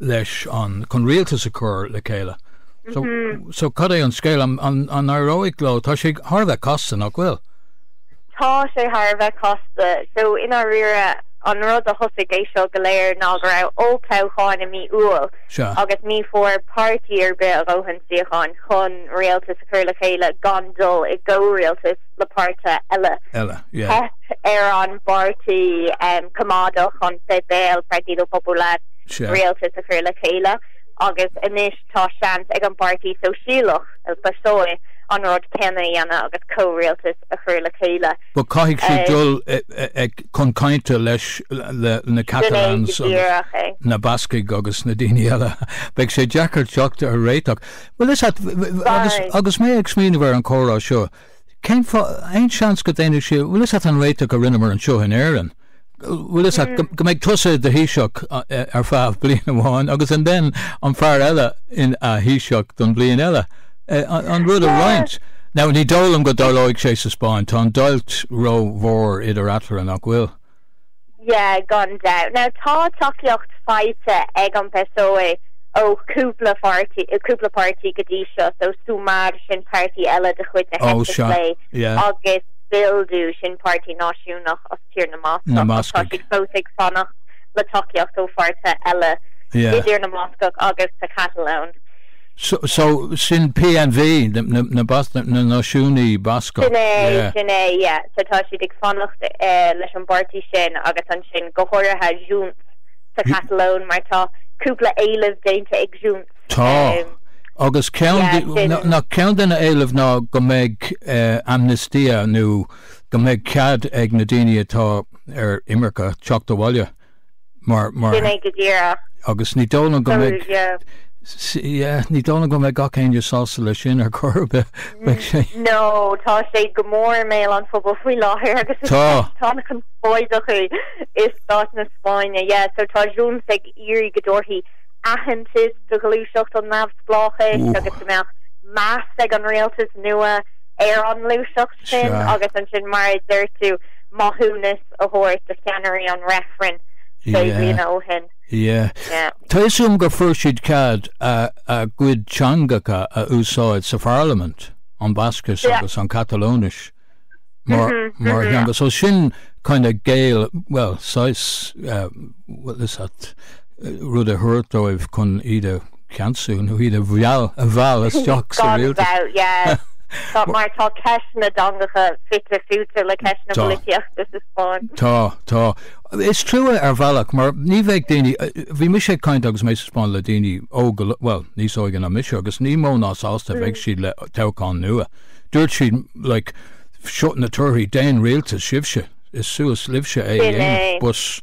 leis chun rialtas a chur le chéile. So, so cad é an scéal? An, an, an éireoidh leo? Tá sé thar a bheith casta, nach bhfuil? Tá sé thar a bheith casta. So, i ndáiríre, an rud a thosaigh é seo go léir ná go raibh olltoghcháin i mí Iúil Sea. agus ní bhfuair páirtí ar bith a dhóthain suíocháin chun rialtas a chur le chéile gan dul i gcomhrialtas. le páirtithe eile. eile, yeah. Theip ar an bpáirtí coimeádach, an Fine Gael, Partido Popular, Sea. rialtas a chur le chéile agus anois tá seans ag an bpáirtí sóisialach, el PSOE, an rud céanna a dhéanamh agus comhrialtas a chur le chéile. But caithfidh siad dul chun cainte leis na Catalans agus na Bascaigh agus na daoine eile. Beidh sé deacair teacht ar réiteach. Bhuel, is ait, agus, Sorry. agus mé ag smaoineamh ar an chomhrá seo, cén fáth, aon seans go ndéanfadh siad, bhuel, is ait an réiteach a rinneamar anseo in Éirinn, bhuel, is ait go, go mbeidh tusa i do Thaoiseach ar feadh bliain amháin agus and then an fear eile ina Thaoiseach don bhliain eile, an rud a Yeah. roinnt. Now, ní dóigh liom go dtarlóidh sé sa Spáinn, tá an deighilt rómhór idir eatarthu, nach bhfuil? Yeah, gan dabht. Now tá tacaíocht faighte ag an PSOE ó chúpla pháirtí, cúpla páirtí go dtí seo, so Sumar, sin páirtí eile de chuid na heite clé, agus Bildu, sin páirtí náisiúnach as Tír na mBascach, ach tá siad fós ag fanacht le tacaíocht ó pháirtithe eile i dTír na mBascach agus sa Chatalóin. So sin PNV, na Náisiúnaithe Bascacha. Sin é, sin é, yeah. So tá siad ag fanacht leis an bpáirtí sin agus ansin go háirithe Junts sa Chatalóin mar tá cúpla éileamh déanta ag Junts. Tá, agus ceann de, nach ceann de na héilimh ná go mbeidh amnistia nó go mbeidh cead ag na daoine atá ar imirce teacht abhaile. Sin é go díreach. Agus ní dóigh liom go mbeidh, yeah, ní dóigh liom go mbeidh gach éinne sásta leis sin ar chor ar bith, beidh sé. No, tá sé go mór i mbéal an phobail faoi láthair agus is ceist chonspóideach í i stát na Spáinne, yeah, so tá Junts ag iarraidh go dtabharfaí aitheantas do ghluaiseacht an neamhspleáchais agus go mbeadh meas ag an rialtas nua ar an ngluaiseacht. sin agus ansin, mar a deir tú, maithiúnas a thabhairt do cheannairí an reifrinn sé bliana ó shin. Tá fhios agam gur fuair siad cead a gcuid teangacha a úsáid sa pharlaimint, an Bhascais agus an Chatalóinis mar theanga, so sin kind of géilleadh, bhuel, saghas, bhuel, is that, rud a thabhairt dóibh chun iad a. ceansú nó iad a mheall, a mheall, isteach sa rialtas. mheall, yeah. Tá, mar tá ceist na dteangacha fite fuaite le ceist na Tá. polaitíochta sa Spáinn. Tá, tá. Is trua ar bhealach mar ní bheadh daoine, bhí mise ag caint agus mé sa Spáinn le daoine óga, bhuel, níos óige ná mise agus ní mó ná sásta a bheadh siad le toghchán nua. Dúirt siad, like, seo na torthaí, déan rialtas sibhse, is suas libhse é a Sin é. dhéanamh. But.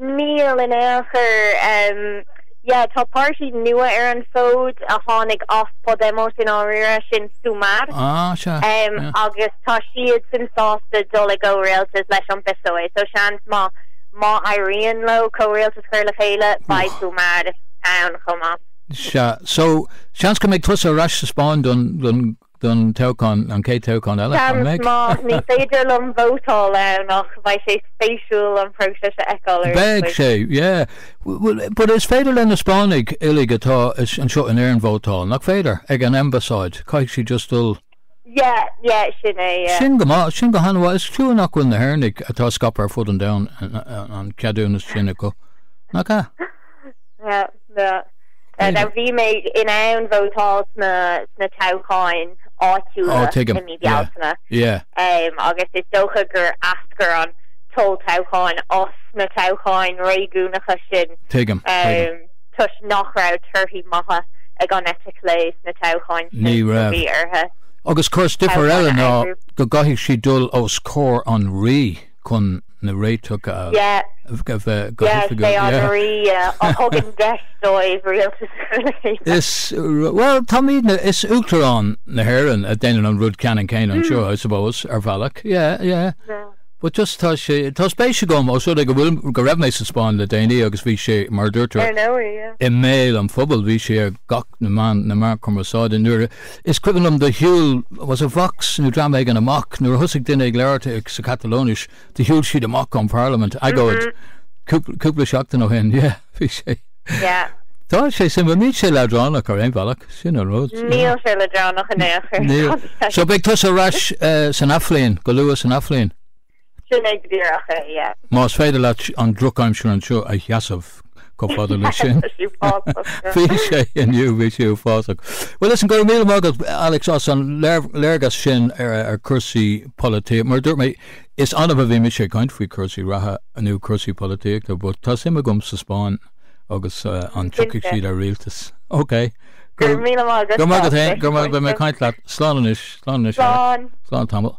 Níl in aon chor. Yeah, tá páirtí nua ar an bhfód a tháinig as Podemos i ndáiríre, sin Sumar, agus tá siadsan sásta dul i gcomhrialtas leis an bPSOE, so seans maith má éiríonn leo comhrialtas a chur le chéile, beidh Sumar ann chomh maith. Sea, so seans go mbeidh tusa ar ais sa Spáinn don don toghchán, an chéad toghchán eile, an mbeidh? Seans maith. Ní féidir liom vótáil ann ach bheadh sé spéisiúil an próiseas a fheiceáil ar dtús. Bheadh sé, yeah. Bhuel, but is féidir le na Spáinnigh uilig atá anseo in Éirinn vótáil, nach féidir? Ag an Ambasáid, caithfidh siad just dul. Yeah, yeah, sin é, yeah. Sin go maith, sin go han-mhaith. Is trua nach bhfuil na hÉireannaigh, atá scaipthe ar fud an domhain, an ceadúnas sin acu, nach ea? Now, bhí mé in ann vótáil sna sna toghcháin áitiúla Á, tuigim. i mí Yeah. Bealtaine Yeah. agus is dócha gur eascair an t-olltoghchán as na toghcháin réigiúnacha sin Tuigim, tuigim. toisc nach raibh torthaí maithe ag an eite chlé sna toghcháin Ní sin a raibh. bhí uirthi. Agus cúrsa, difear eile ná go gcaithfidh siad dul os comhair an Rí. chun na réiteach a bheith go hoifigiúil. Yeah, they are the re, yeah, a thugann deis dóibh rialtas a chruthú. Is, bhuel, táimidne, is Uachtarán na hÉireann a déanann an rud ceannann céanna anseo, I suppose, ar bhealach. Yeah, yeah. Yeah. But just tá sé, tá spéis agam, os rud é go bhfuil, go raibh mé sa Spáinn le déanaí agus bhí sé, mar a dúirt tú, i mbéal an phobail, bhí sé ar gach na meáin, na meáin chumarsáide nuair a, Is cuimhin liom do shiúl, was it Vox nó dream éigin, amach, nuair a thosaigh duine ag labhairt sa Chatalóinis, do shiúl siad amach ón Pharlaimint, agóid, cúpla, cúpla seachtain ó shin, yeah, bhí sé, yeah. tá sé suimiúil, níl sé leadránach ar aon bhealach, sin an rud. Níl sé leadránach in aon chor. Níl. So beidh tusa ar ais san athbhliain, go luath san athbhliain? Sin é go díreach é, yeah. Más féidir leat an drochaimsir anseo a sheasamh chomh fada leis sin. Tá sí uafásach. Bhí sé inniu, bhí sé uafásach. Bhuel, listen, go raibh míle maith agat, Alex, as an léargas sin ar chúrsaí polaitíochta. Mar a dúirt mé, is annamh a bhím ag caint faoi chúrsaí reatha nó cúrsaí polaitíochta, but tá suim agam sa Spáinn. agus an dtiocfaidh siad ar rialtas. Ok. Go raibh míle maith agat. Go raibh maith agat féin. Go maith. Beidh mé ag caint leat. Slán anois. Slán anois. Slán. Slán tamall.